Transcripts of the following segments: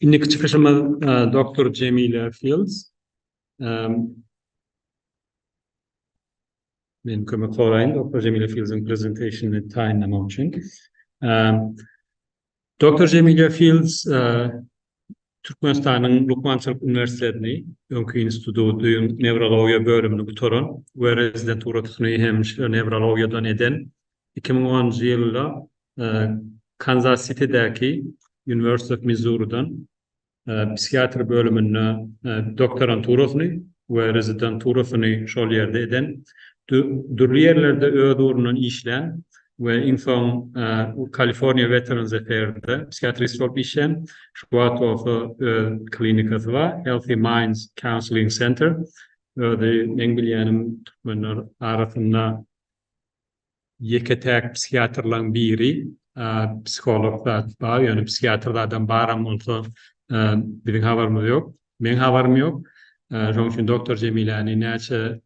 Indiki çykyşymyz doktor Jemile Fields. Men kömek soraýyn doktor Jemile Fields-iň prezentasiýasyny taýynlamak üçin. Doktor Jemilýa Fields Türkmenistanyň Lukmançylyk uniwersitetini, öňki instituty, newrologiýa bölümini gutaran we rezidenturasyny hem şol newrologiýadan eden, iki müň onunjy ýylda Kanzas-Sitidäki University of Missouri-dan psihiatr bölüminde doktoranturasyny we rezidenturasyny şol ýerde eden, dürli ýerlerde öz ugrundan işlän we iň soň Kaliforniýa Veterans Affairs-de psihiatrist bolup işleýän, şu wagt bolsa öz klinikasy bar, Healthy Minds Counseling Center. Özi, meň bilýänim, türkmenler arasynda Ýeke-täk psihiatrlaň biri, psiholog zat bar, ýöne psihiatr zadam baram bolsa, biziň habarymyz ýok. Meň habarym ýok. Şonuň üçin doktor Jemiläni näçe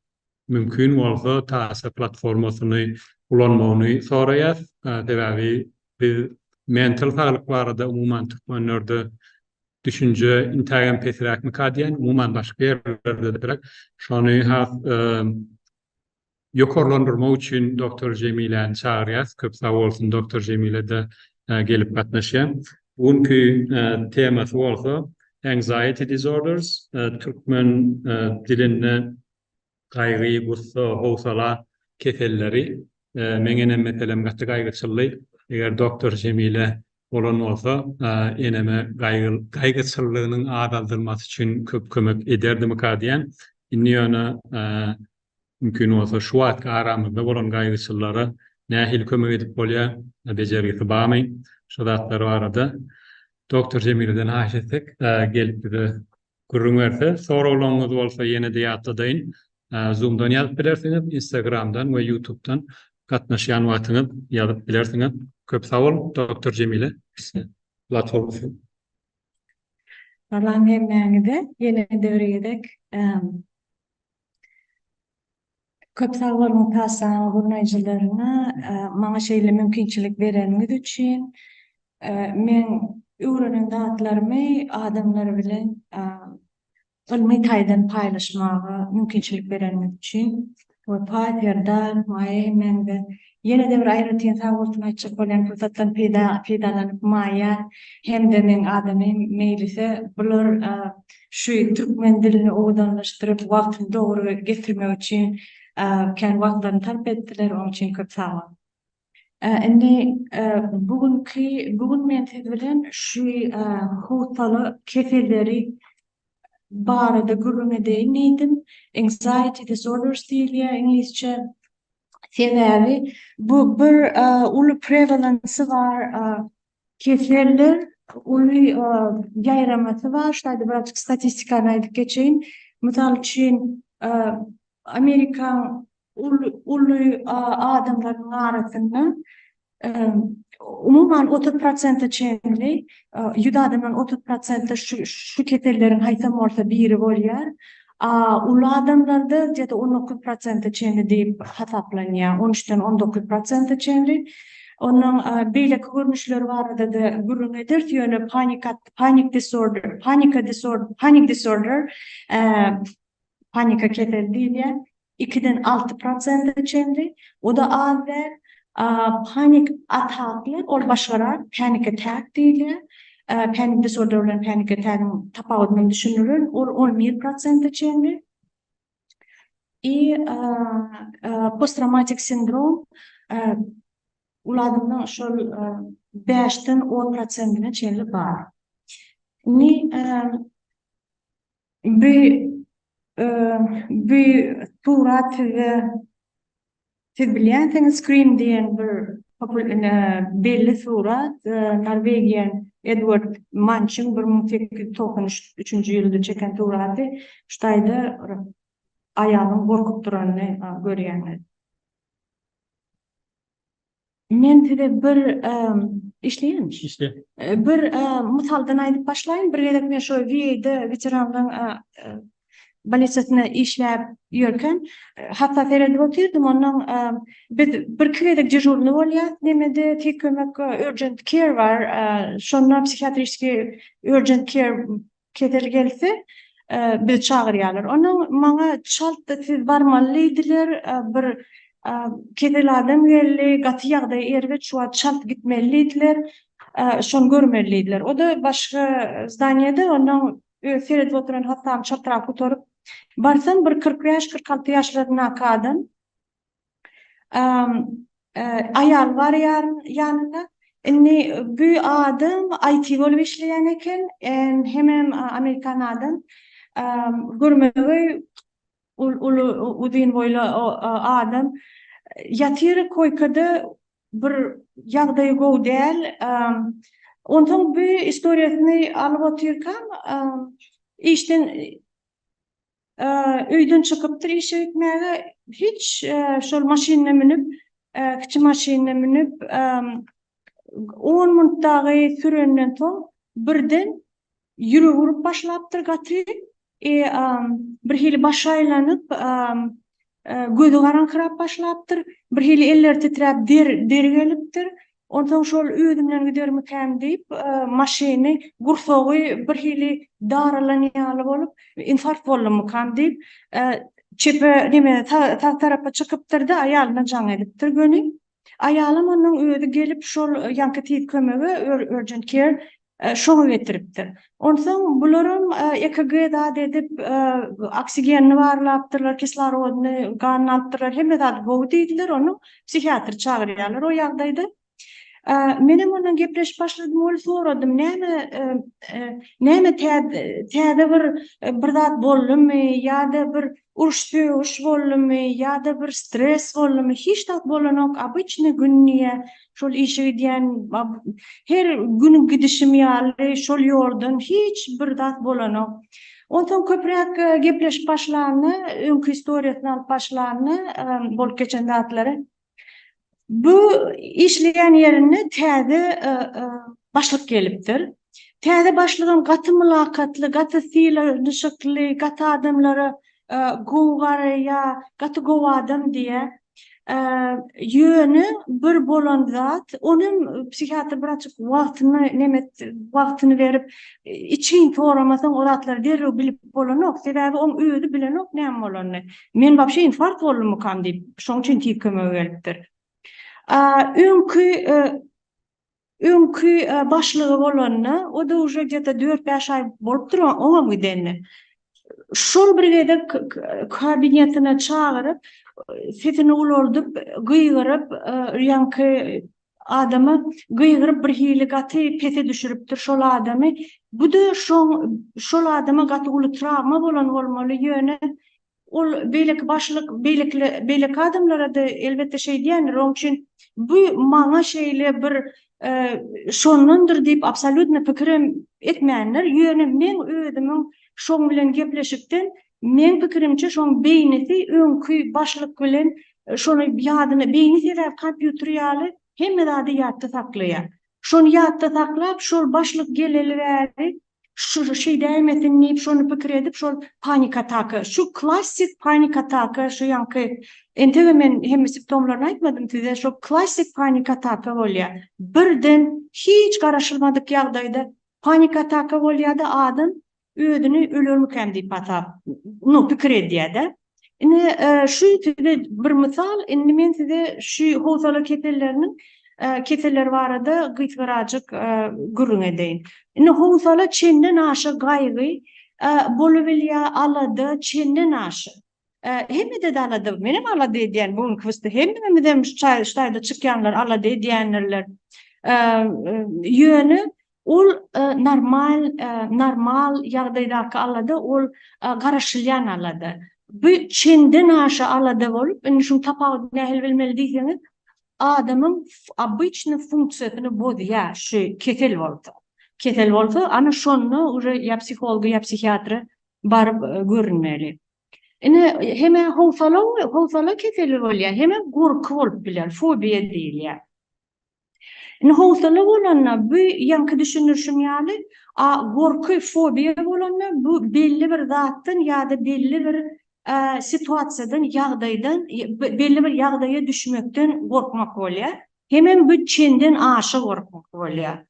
mümkin bolsa Tasa platformasyny ulanmagyny soraýas. Sebäbi biz mental saglyk barada umuman türkmenlerde düşünje intägem pesiräkmika diýen, umuman başga ýerlerde-de beter. Şony has Ýokarlandyrmak üçin Doctor Jemiläni çagyrýas. Köp sag bolsun Doctor Jemile-de gelip gatnaşýa. Bu günki temasy bolsa Anxiety disorders, türkmen dilinde gaýgy, gussa, howsala keselleri. Meň enem meselem gaty gaýgyçyldy. Eger Doctor Jemile bolan bolsa eneme gaýgyçyllygynyň azaldylmasy üçin köp kömek ederdimika diýýän. Indi ýöne Mümkin bolsa şu wagtky aramyzda bolan gaýgyçyllara nähili kömek edip bolýar, bejergisi barmy, şu zatlar barada Doctor Jemileden haýyş etsek gelip bize gürrüň berse. Soraglaryňyzy bolsa ýene-de ýatladaýyn, Zoomdan ýazyp bilersiňiz, Instagramdan we Ýutubdan gatnaşýan wagtyňyz ýazyp bilersiňiz. Köp sag bol, Doctor Jemile. Lat bolsun. Salam hemmäňize, ýene-de bir gezek Köp sag boluň Tassanyň gurnaýjylaryna maňa şeýle mümkinçilik bereniňiz üçin. Men öwrenen zatlarymy adamlar bilen ylmy taýdan paýlaşmaga mümkinçilik bereniňiz üçin we Paýter, Dark, Maýeý, Mende Ýene-de bir aýratyn sag bolsun aýtjak bolýan pursatdan peýda peýdalanyp Maýa hem-de meň adamym Meýlise bular şu türkmen dilini owadanlaşdyryp wagtyny dogry getirmek üçin kän wagtlaryny sarp etdiler oň üçin köp sag boluň. Indi bu günki bu gün men siz bilen şu howsala keselleri barada gürrüň edeýin diýdim. Anxiety disorders diýilýär iňlisçe. Sebäbi bu bir uly prevalence bar, keseldir, uly ýaýramasy bar. Şaýdy bir açyk statistikany aýdyp geçeýin. Mysal üçin, Amerikaň uly uly adamlarynyň arasynda Umuman, otuz prosente çenli, ýüz adamdan otuz prosente şu keselleriň haýsam bolsa biri bolýar. Uly adamlarda ýa-da on dokuz prosente çenli diýip hasaplanýar, on üçden on dokuz prosente çenli. Onuň beýleki görnüşleri barada-da gürrüň ederis, ýöne panika disorder panika keseli diýilýär. Ikiden alty prosente çenli, o-da az däl. Panik ataklar, ol başgarak, panic attack diýilýär. Panic disorder bilen panic attack-yň tapawudyny düşündirin, ol on bir prosente çenli. I posttraumatik sindrom, ol adamda şol bäşden on prosentine çenli bar. Indi Bi bi surat size siz bilýänsiňiz screen diýen bir belli surat Norwegian Edward Mançyň bir müň sekiz ýüz togsan üçünji ýylda çeken suraty şu taýda aýalyň gorkup duranyny görýäňiz. Men size bir işleýänmiş. Işle. Bir mysaldan aýdyp başlaýyn. Bir gezek men şo VA-da weteranlaryň bolnisiýasynda işläp ýörkäm, hassa seredip otyrdym. Onnoň biz birki gezek dežurnyý bolýas. Nemede tiz kömek urgent care bar. Şonda psihiatriskiý urgent care Kesel gelse, bizi çagyrýarlar. Onsoň maňa çalt-da siz barmaly diýdiler. Bir kesel adam geldi, gaty ýagdaýy erbet, şu wagt çalt gitmeli diýdiler. Şony görmeli diýdiler. O-da başga zdaniýede, onsoň öz seredip oturan hassamy çaltrak gutaryp barsam, bir kyrk bäş-kyrk alty ýaşlaryndaky adam. Aýal bar ýanynda. Indi bu adam IT bolup işleýän eken. Hemem amerikan adam. Görmegeý uly uzyn boýly adam. Ýatyr koýkada bir ýagdaýy gowy däl. Onsoň bu istoriýasyny alyp otyrkam işden Öýden çykypdyr işe gitmäge. Hiç şol maşynyna münüp, kiçi maşynyna münüp, on minut dagy sürenden soň birden ýüregi urup başlapdyr gaty. Birhili başy aýlanyp, Gözi garaňkyrap başlapdyr. Birhili elleri titräp, deri gelipdir. Onsoň şol özümden gidermikäm diýip, maşyny, gursagy birhili daralan ýaly bolup, infarkt boldumykam diýip, çepe, neme, sag tarapa çykypdyr-da, aýalyna jaň edipdir göni. Aýalam onnoň özi gelip şol ýaňky tiz kömege, urgent care, şoňa getiripdir. Onsoň bularam EKG zat edip, oksigenini barlapdyrlar, kislorodyny, ganyny alypdyrlar, hemme zady gowy diýdiler, onuň psihiatr çagyrýarlar o ýagdaýda. Menem onnoň gepleşip başladym, ol soradym, näme, näme täze bir, bir zat boldumy ýa-da bir Uruş-sögüş boldumy ýa-da bir stres boldumy, hiç zat bolanok, obyçny gün diýýä, şol işe gidýän, her gün gidişim ýaly şol ýoldan hiç bir zat bolanok. Onsoň köpräk gepleşip başlanda, öňki istoriýasyny alyp başlanda bolup geçen zatlary, Bu işleýän ýerinde täze başlyk gelipdir. Täze başlygam gaty mylakatly, gaty sylanşykly, gaty adamlara gowy garaýar, gaty gowy adam diýýär. Ýöne bir bolan zat, ol hem psihiatr wraçyk wagtyny neme etdi, wagtyny berip, içgin soramasaň o zatlary derrew bilip bolanok. Sebäbi oň özi bilenok näme bolanyny. Men wapşe infarkt boldummykam diýip, şoň üçin tiz kömege gelipdir. Öňki öňki başlygy bolanda, o da uje gde-de dört-bäş aý bolupdyr oňam gidende. Şol bir gezek kabinetine çagyryp, sesini ulaldyp, gygyryp, ýaňky Adamy gygyryp bir hili gaty pese düşüripdir şol adamy bu-da şoň şol adama gaty uly trawma bolan bolmaly ýöne ol beýleki başlyk beýlekile beýleki adamlara-da elbetde şeýdýändir oň üçin bu maňa şeýle bir şondandyr diýip absolýutno pikirem etmändir ýöne meň özümiň şoň bilen gepleşikden Meň pikirimçe şoň beýnisi öňki başlyk bilen şony ýadyna beýni sebäp kompýuter ýaly hemme zady ýatda saklaýa. Şony ýatda saklap şol başlyk geleli bäri şu şeýdäýmesin diýip şony pikir edip şol panik ataka şu klassik panik ataka şu ýaňky entege men hemme siptomlaryny aýtmadym size şo klassik panik ataka bolýa birden hiç garaşylmadyk ýagdaýda panik ataka bolýada adam Özüni ölermikäm diýip hasap, no, pikir edýär-de. Indi şu size bir mysal, indi men size şu howsala keselleriniň keselleri barada gysgarajyk gürrüň edeýin. Indi howsala çenden aşa gaýgy bolubilýär, alada çenden aşa. Hemmede de alada, menem alada edýän bu günki wsty, hemmämizem şu çaý, şu taýda çykýanlar alada edýändirler. Ýöne ol normal, normal ýagdaýdaky alada, ol garaşylýan alada. Bu çenden aşa alada bolup, indi şuň tapawudyny nähili bilmeli diýseňiz, adamyň obyçny funksiýasyny bozýar şu kesel bolsa. Kesel bolsa, ana şonda uje ýa psiholga, ýa psihiatra baryp görünmeli. Ine, hem-ä howsala we howsala keseli bolýar, hem-ä gorky bolup biler, fobiýa diýilýär. Indi howsala bolanda bu ýaňky düşündirişim ýaly, a gorky, fobiýa bolanda bu belli bir zatdan ýa-da belli bir situasiýadan, ýagdaýdan, belli bir ýagdaýa düşmekden gorkmak bolýar. Hemem bu çenden aşa gorkmak bolýar.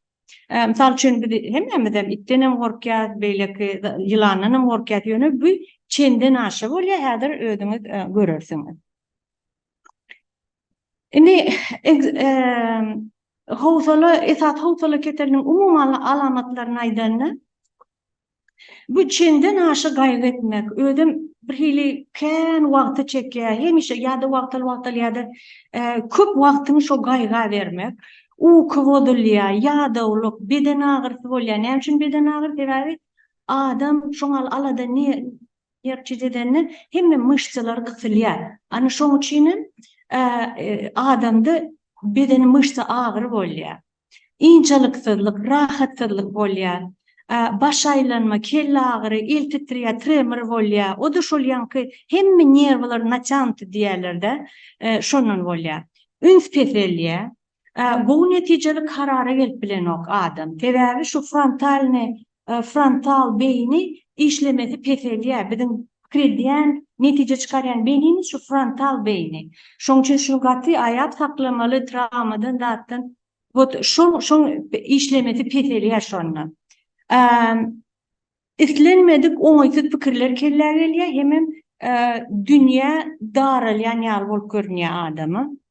Ee, mysal üçin biz hemmämiz hem itden hem gorkýas, beýleki ýylandan hem gorkýas. Ýöne bu çenden aşa bolýar, häzir özüňiz e, görersiňiz. Indi e, howsala esas howsala keseliniň umuman alamatlaryny aýdanda, Bu çenden aşa gaýgy etmek, özem bir hili kän wagty çekýär, hemişe ýa-da wagtal-wagtal ýa-da köp wagtyňy şo gaýga bermek, uky bozulýar, ýadawlyk, beden agyrysy bolýar. Näme üçin beden agyr? Sebäbi adam şoňa alada nerwçit edende hemme myşsalar gysylýar. Ana şoň üçin hem adamda bedeni myşsa agyry bolýar. Ynjalyksyzlyk, rahatsyzlyk bolýar. Baş aýlanma, kelle agyry, el titreýär, tremor bolýar. O-da şol ýaňky hemme nerwler natýanty diýýärler-dä, şondan bolýar. Üns peselýär. Gowy netijeli karara gelip bilenok adam. Sebäbi şu frontalnyý Frontal beýni işlemesi peselýär. Biziň pikir edýän, netije çykarýan beýnimiz şu frontal beýni. Şoň üçin şuny gaty aýap saklamaly, trawmadan zatdan. Wot şoň şoň işlemesi peselýär şonda. Islenmedik oňaýsyz pikirler kellä gelýär hemem dünýä daralýan ýaly bolup görünýär adama.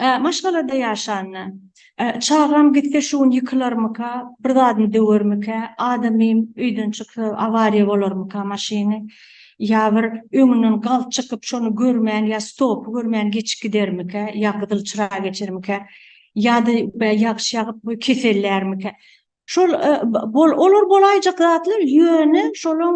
Ä, maşgalada ýaşanda, Ä, çagam gitse şu gün ýykylarmyka, bir zadyny döwermikä, adamym öýden çyksa awariýa bolarmyka maşyny, ýa bir öňünden galt çykyp şony görmän ýa stopy görmän geçip gidermikä, ýa gyzyl çyraga geçermikä, ýa-da bä ýagyş ýagyp kesellärmikä. Şol olar bolaýjak zatlar ýöne şolaň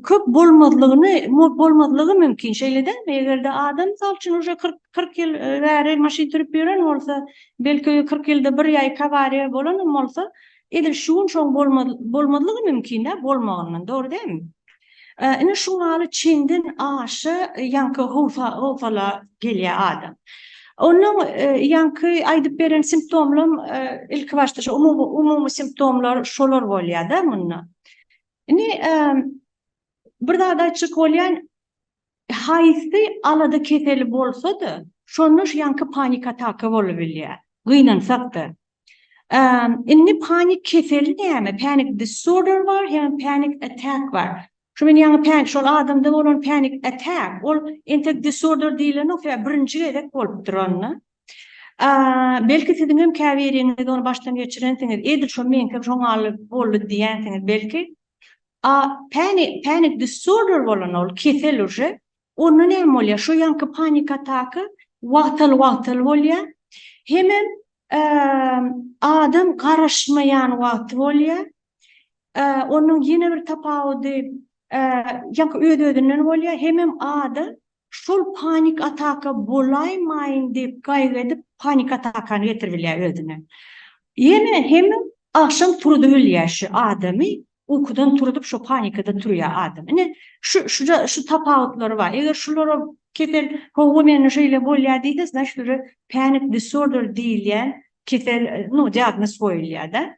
köp bolmazlygyny bolmazlygy mümkin şeýle dälmi egerde adam mysal üçin uje kyrk ýyl bäri maşyn sürüp ýören bolsa belki kyrk ýylda bir ýaýka awariýa bolanam bolsa edil şu gün şoň bolmazlygy mümkin dä bolmagyndan dogry dälmi Ine şu maly çenden aşa ýaňky howsa howsala gelýär adam. Onuň e, ýaňky aýdyp beren simptomlam e, ilki başda şu umumy umumy simptomlar şolar bolýar-da munda. Ine e, bir zat aýtjak bolýan Haýsy alada keseli bolsa-da, şonda şu ýaňky panik ataka bolubilýär. Gynansak-da. Indi panik keseli näme? Panic disorder bar hem panic attack bar. Şu men ýaňy pan şol adamda bolan panic attack, ol entek disorder diýilenok, sebäbi birinji gezek bolupdyr onda. Belki siziň hem käbiriňiz ony başdan geçirensiňiz, edil şo meňkem şoňa boldy diýensiňiz belki. A panic panic disorder bolan ol kesel uje onda näme bolýar şu ýanky panik ataka wagtal wagtal bolýar hemem adam garaşmaýan wagty bolýar onuň ýene bir tapawudy ýanky öz özünden bolýar hemem adam Şol panik ataka bolaýmaýyn diýip gaýgy edip panik atakany getirip bilýär özüne. Ýene hemiň agşam turudyp bilýär şu adamy, ukudan turudyp şo panikada turýar adam. Ine şu şu tapawutlary bar. Eger şulara kesel howwa mende şeýle bolýar diýse znaçt uje panic disorder diýilýän kesel no diagnoz goýulýar-da.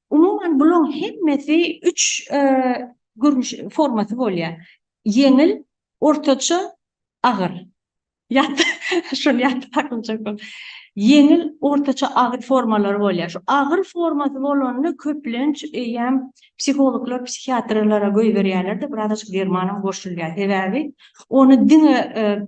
Umuman bulaň hemmesi üç görnüş formasy bolýar. Ýeňil, ortaça, agyr. Ýat şuny ýatda saklajak bol. Ýeňil, ortaça, agyr formalary bolýar. Şu agyr formasy bolanda köplenç eýýäm psihologlar, psihiatrlara göýberýärler-de, biraz açyk derman hem goşulýar. Sebäbi ony diňe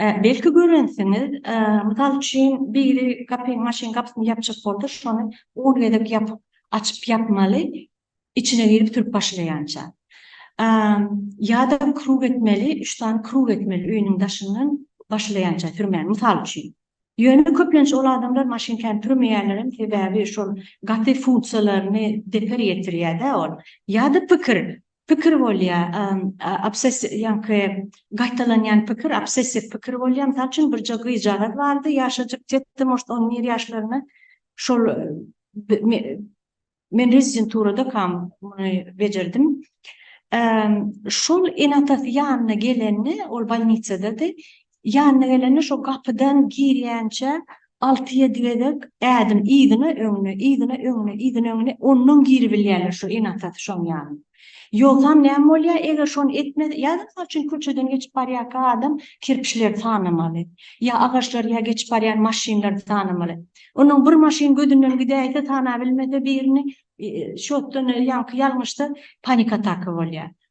Belki görensiňiz, mysal üçin, biri gapyny, maşyn gapysyny ýapjak bolsa, şony on gezek ýapyp, açyp-ýapmaly, içine girip sürüp başlaýança. Ýa-da krug etmeli, üç sany krug etmeli öýüniň daşyndan başlaýança sürmäni, mysal üçin. Ýöne köplenç ol adamlar maşynkany sürmeýänlerem, sebäbi şol gaty funksiýalaryny zeper ýetirýär-dä ol. Ýa-da pikir, Pikir bolýar, obsessiw, ýaňky gaýtalanýan pikir, obsessiw pikir bolýar. Mysal üçin, birje gyzjagaz bardy, ýaşajyk, tet-de, может, on bir ýaşlarynda. Şol men rezidenturadakam muny bejerdim. Şol ene-atasy ýanyna gelende, ol bolnisadady, Ýanyna gelende şo gapydan girýänçä alty-ýedi gezek ädim yzyna, öňüne, yzyna, öňüne, yzyna, öňüne, onnoň giribilýärler şo ene-atasy şoň ýanyna. Ýogsam näme bolýar, eger şony etmese, ýa mysal üçin köçeden geçip barýarka adam kerpiçleri sanamaly, ýa agaçlary, ýa geçip barýan maşynlary sanamaly. Onnoň bir maşyn gözünden gidäýse, sanabilmese birini, şotdan ýaňky ýalňyşda panik ataka bolýar.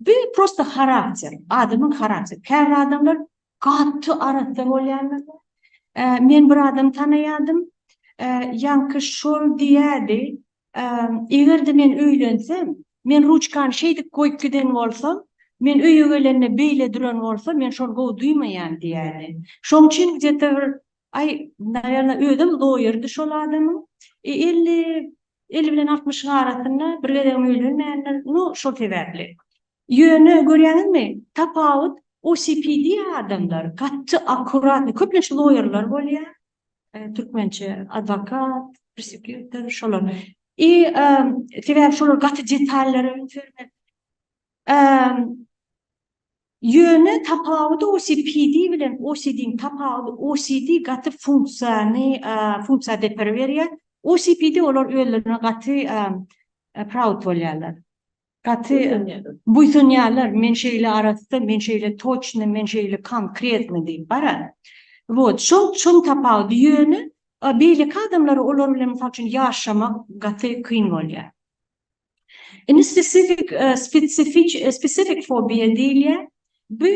Bu prosta harakter, adamyň harakteri. Käbir adamlar gaty arassa bolýarlar. Men bir adamy tanaýardym. Ýaňky şol diýýärdi, Eger-de men öýlensem, men ruçkany şeýdip goýup giden bolsam, men öýe gelende beýle duran bolsa, men şony gowy duýmaýan diýýärdi. Şonuň üçin gde-te bir Aý, nawerna, özem doýurdy şol adamyň. E, elli, elli bilen altmyşyň arasynda, bir gezegem öýlenmändir. No, şol sebäpli. Ýöne, görýäňizmi, tapawut, OCPD adamlar gaty akkuratny, köplenç loýerler bolýar, türkmençe, adwokat, prosekýutor, şolar. I, sebäbi şolar gaty detallary öňe sürmek. Ýöne tapawudy OCPD bilen OCD-niň tapawudy, OCD gaty funksiýany, funksiýa depere berýär, OCPD olar özlerine gaty proud bolýarlar, gaty buýsanýarlar, men şeýle arassa, men şeýle toçny, men şeýle konkretny diýip, bara. Wot, şol, şonuň tapawudy, ýöne beýleki adamlara olar bilen mysal üçin ýaşamak gaty kyn bolýar. Indi spesifik, spesifik, spesifik fobiýa diýilýär. Bu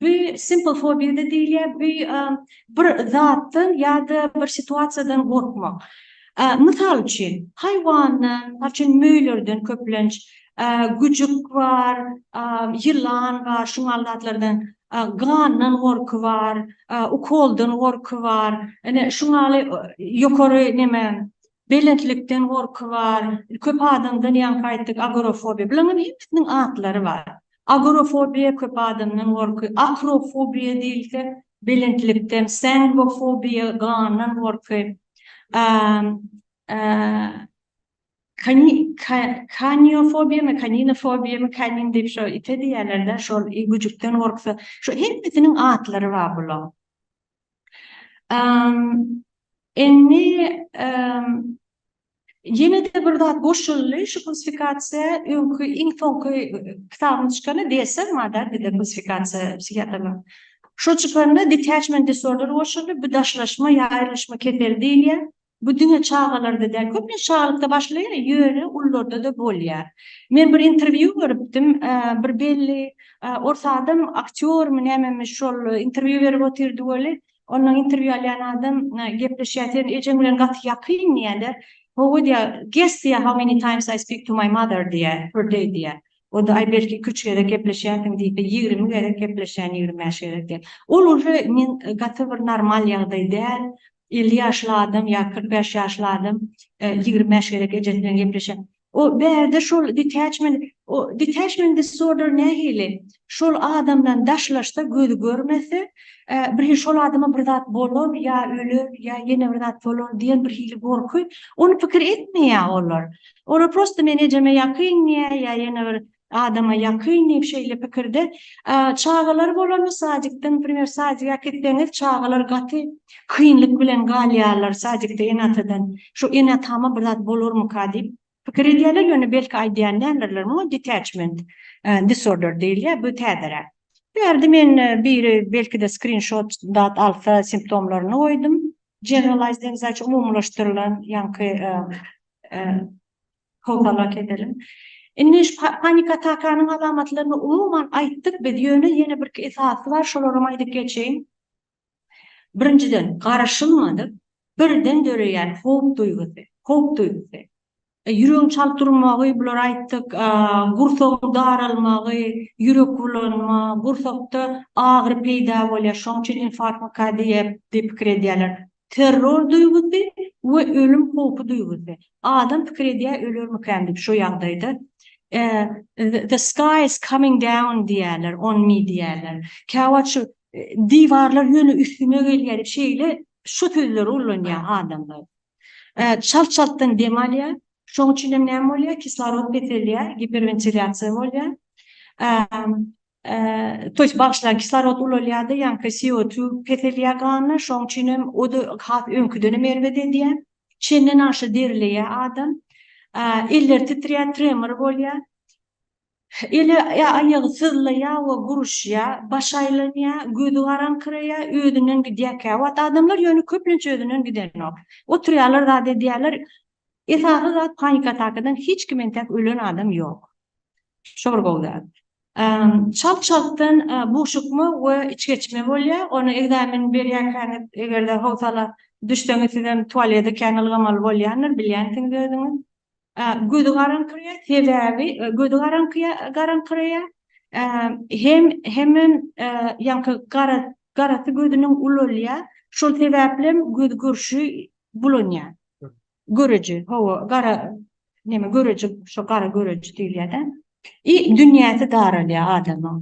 bu simple fobiýa da diýilýär. Bu bir zatdan ýa-da bir situasiýadan gorkmak. Mysal üçin, haýwandan, mysal üçin, möýlerden köplenç, güjük bar, ýylan bar, şu ýaly zatlardan, gandan gorky bar, ukoldan gorky bar. Ine, şu ýaly ýokary neme, Belentlikden gorky bar. Köp adamdan ýaňky aýtdyk agorofobiýa. Bularyň hemmesiniň atlary bar. Agorofobiýa köp adamdan gorky, akrofobiýa diýilse belentlikden, sangofobiýa gandan gorky, kaniofobiýamy, kaninofobiýamy, kanin diýip şo ite diýýärler-dä, şol güjükden gorksa, şu hemmesiniň atlary bar bularyň. Indi ýene-de bir zat goşuldy, şu klasifikasiýa öňki iň soňky kitabyň çykany DSM-a da, klasifikasiýa psihiatriýa. Şu çykanda detachment disorder goşuldy, bu daşlaşma ýa aýrylyşma keseli diýilýär. Bu diňe çagalarda däl, köplenç çagalykda başlaýar, ýöne ulularda-da bolýar. Men bir interwýu görüpdim, bir belli ors adam aktýormy, nämemi şol interwýu berip otyrdy weli, ondan interwýu alýan adam gepleşýär, sen ejeň bilen gaty ýakyn diýýärler, Hawa diýýär, guess diýýär, how many times I speak to my mother diýýär, per day diýýär. Onda aý belki iki üç gezek gepleşýärsiň diýipdir, ýigrimi gezek gepleşýän, ýigrimi bäş gezek diýýär. Ol uje men gaty bir normal ýagdaý däl, Elli ýaşly adam ýa kyrk bäş ýaşly adam ýigrimi bäş gezek ejesi bilen gepleşen. O bärde şol detachment o detachment disorder nähili? Şol adamdan daşlaşsa gözi görmese birhili şol adama bir zat bolar ýa öler ýa ýene bir zat bolar diýen birhili gorky ony pikir etmeýä olar. Olar prosta men ejeme ýakyn diýä ýa ýene bir Adama ýakyn diýip şeýle pikirde çagalar bolanda sadikde naprimer sadik äkitseňiz çagalar gaty kynlyk bilen galýarlar sadikde ene atadan şu ene atama bir zat bolarmyka diýip pikir edýärler ýöne belki aýdýan däldirler muňa detachment disorder diýilýär bu täzeräk bu ýerde men biri belkide skrinşot dat alsa simptomlaryny goýdum generalized anxiety umumylaşdyrylan ýaňky Howsalat edeliň. Indi şu panik atakanyň alamatlaryny umuman aýtdyk biz, ýöne ýene birki esasy bar, şolaram aýdyp geçeýin. Birinjiden, garaşylmadyk birden döreýän howp duýgusy, howp duýgusy. Ýüregiň çalt durmagy, bulary aýtdyk, gursagyň daralmagy, ýürek bulanma, gursakda agyry peýda bolýar, şonuň üçin infarkt miokardida diýip pikir edýärler. Terror duýgusy we ölüm howpy duýgusy. Adam pikir edýär ölermikäm diýip şo ýagdaýda. The sky is coming down diýýärler on me diýýärler. Käwagt şu diwarlar ýöne üstüme gelýär diýip şeýle şu sözleri ullanýar adamlar. Çalt çaltdan dem alýar. Şoň üçinem näme bolýar kislorod peselýär, giperwentilýasiýa bolýar. Toýs bagyşla kislorod ulalýardy, ýaňky CO2 peselýär ganda, şoň üçin hem o-da has öňküdenem erbet edýär. Çenden aşa derileýär adam. Elleri titrýär, tremor bolýar. Eli ýa aýagy syzlaýar we guruşýar, başy aýlanýar, gözi garaňkyraýar, özünden gidýär käwagt adamlar, ýöne köplenç özünden gidenok. Oturýarlar zat edýärler. Esasy zat panik atakadan hiç kim entäk ölen adam ýok. Şo bir gowy zat. Çalt-çaltdan buşukma we içgeçme bolýar. Ony ekzamen berýärkäňiz, eger-de howsala düşseňiz, sizem tualede kän ylgamaly bolýandyr, bilýänsiňiz özüňiz. Gözi garaňkyrýar, sebäbi gözi garaňkyrýar, hem hemem ýaňky garasy gözüniň ulalýar, şol sebäplem göz görşi bulanýar. Göreji, hawa, gara, neme, göreji, şo gara göreji diýilýär-dä. I dünýäsi daralýar adamyň.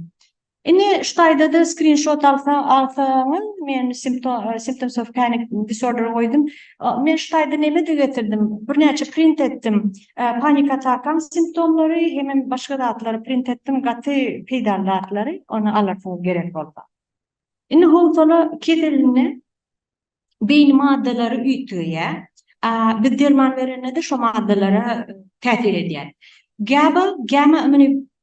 Indi şu taýda-da skrinşot alsa, alsaňyz, men simpto, symptoms of panic disorder goýdum. Men şu taýda neme-de getirdim, birnäçe print etdim. Panik atakaň simptomlary hemem başga zatlary print etdim, gaty peýdaly zatlary, ony alarsyňyz gerek bolsa. Indi howsala keselini beýni maddalary üýtgeýär. Biz derman berende-de şo maddalara täsir edýär. GABA, gamma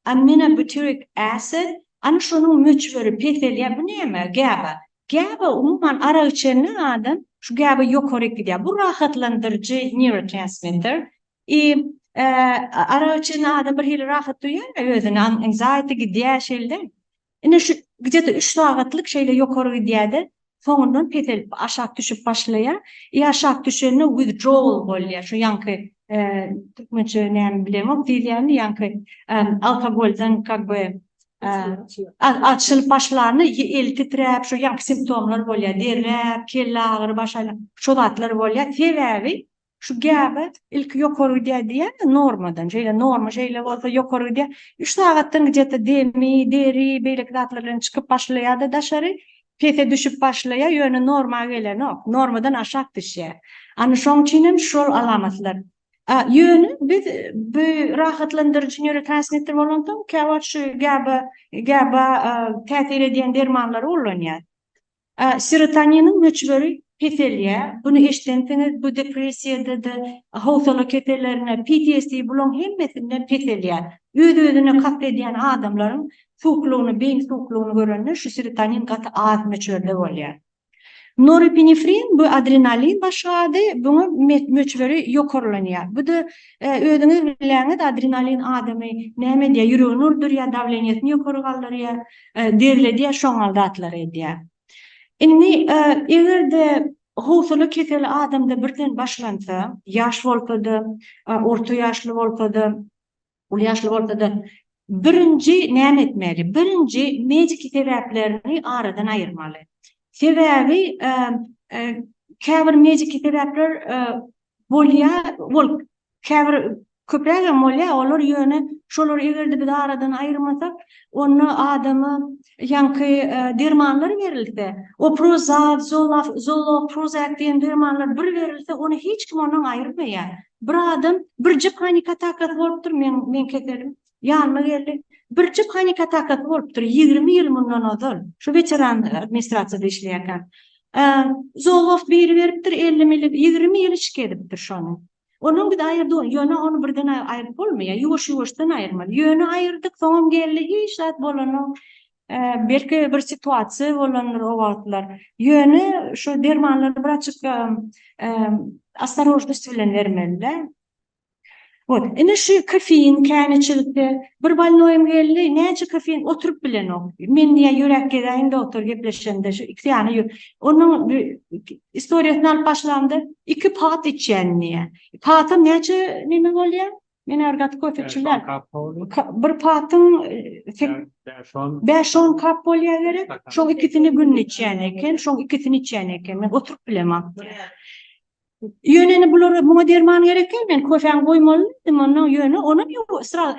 aminobutyric acid, ana şonuň möçberi peselýär. Bu näme GABA? GABA umuman arak içende adam şu GABA ýokaryk gidýär. Bu rahatlandyryjy neurotransmitter. I arak içende adam birhili rahat duýýar özüni, anxiety gidýär şeýle. Ine şu gije-de üç sagatlyk şeýle ýokary gidýär-de, soňundan peselip aşak düşüp başlaýar. I aşak düşende withdrawal bolýar, şu ýaňky türkmençe näme bilemok, diýilýärmi ýaňky alkogoldan kak by açylyp başlanda el titräp şu ýaňky simptomlar bolýar, derräp, kelle agyry, baş aýlanma, şo zatlar bolýar. Sebäbi Şu gäbe ilki ýokary gidýär diýýärler normadan. Şeýle norma şeýle bolsa ýokary gidýär. Üç sagatdan gijesi demi, deri, beýleki zatlar bilen çykyp başlaýar-da daşary, pese düşüp başlaýar, ýöne norma gelenok. Normadan aşak düşýär. Ana şoň üçin hem şol alamatlar. A, ýöne biz bu rahatlandyryjy nýorotransmitter bolansoň käwagt şu gäbe gäbe täsir edýän dermanlary ullanýarys. Serotoniniň möçberi peselýär. Buny eşdensiňiz, bu depressiýada-da, howsala kesellerinde, PTSD, bularyň hemmesinde peselýär. Öz-özüne kast edýän adamlaryň suwuklygyny, beýni suwuklygyny görende şu serotonin gaty az möçberde bolýar. Norepinefrin, bu adrenalin başga ady, buňa möçberi ýokarlanýar. Bu-da özüňiz bilýäňiz, adrenalin adamy näme edýär, ýüregini urdurýar, dawleniýesini ýokary galdyrýar. Derledýär, şoňal zatlar edýär. Indi eger-de howsala keseli adamda birden başlansa, ýaş bolsa-da, orta ýaşly bolsa-da, uly ýaşly bolsa-da, birinji näme etmeli? Birinji mediki sebäplerini aradan aýyrmaly. Sebäbi käbir mediki sebäpler Bolýa, bol käbir köprägem bolýa, olar ýöne şolary eger-de biz aradan aýyrmasak, onda adama ýaňky dermanlar berilse, oprozat, zolaf, zolo, prozak diýen dermanlar bir berilse, ony hiç kim ondan aýyrmaýar. Bir adam birje panik atakasy bolupdyr, men, men keselim, Ýanyma geldi. Birje panik atakasy bolupdyr, ýigrimi ýyl mundan ozal. Şu weteran administrasiýada işleýärkäm. Zowak biri beripdir, elli milli, ýigrimi ýyl içki edipdir şony. Onam biz aýyrdyk, ýöne ony birden aýryp bolmaýar, ýuwaş-ýuwaşdan aýyrmaly. Ýöne aýyrdyk, soňam geldi, hiç zat bolanok. Belki bir situasiýa bolandyr o wagtlar. Ýöne şu dermanlary braçka ostorojnost bilen bermeli-dä. Wot, ine şu kofein käneçilikde bir bolnoýym geldi, näçe kofein oturyp bilenok. Men diýýä ýürek gezäýin doktor gepleşende şu iki sany ýü. Onuň istoriýasyny alyp başlamda iki pat içýän diýýä. Patam näçe neme bolýa? Men agyr gaty kofe içýän. Bir patyň bäş on kap bolýa gerek. Şoň ikisini günde içýän eken, şoň ikisini içýän eken. Men oturyp bilemok diýýä. Ýöne indi bulara muňa derman gerekmi? Men kofäni goýmaly diýdim, ondan ýöne onam ýok, sraz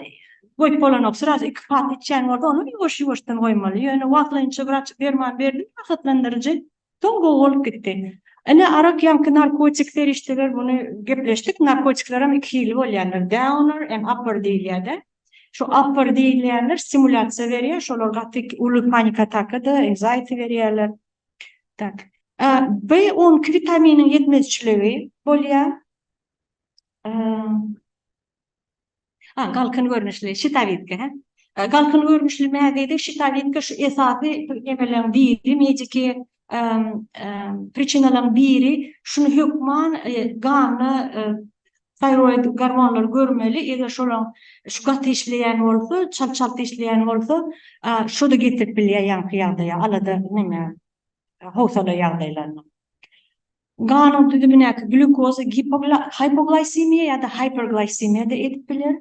goýup bolanok, sraz iki kap içýän bolsa, onam ýuwaş-ýuwaşdan goýmaly. Ýöne wagtlaýynça wraç derman berdi, rahatlandyryjy, soň gowy bolup gitdi. Ine, arak ýaňky narkotik serişdeler, muny gepleşdik, narkotiklerem iki hili bolýandyr, downer and upper diýilýär-de. Şu upper diýilýänler stimulýasiýa berýär, şolar gaty uly panik-ataka-da, anxiety berýärler. Tak. B on iki witaminiň ýetmezçiligi bolýar. A galkyn görnüşli şitawitka, hä? Galkyn görnüşli mäzede şitawitka şu esasy emeleň biri, mediki priçinalaryň biri. Şuny hökman ganda Taýroid gormonlary görmeli, eger şolar şu gaty işleýän bolsa, çalt-çalt işleýän bolsa, şo-da getirip bilýär ýaňky ýagdaýa, alada, näme, howsala ýagdaýlaryna. Ganyň düzümindäki glýukoza hipoglýsemiýa ýa-da hiperglýsemiýa-da edip biler.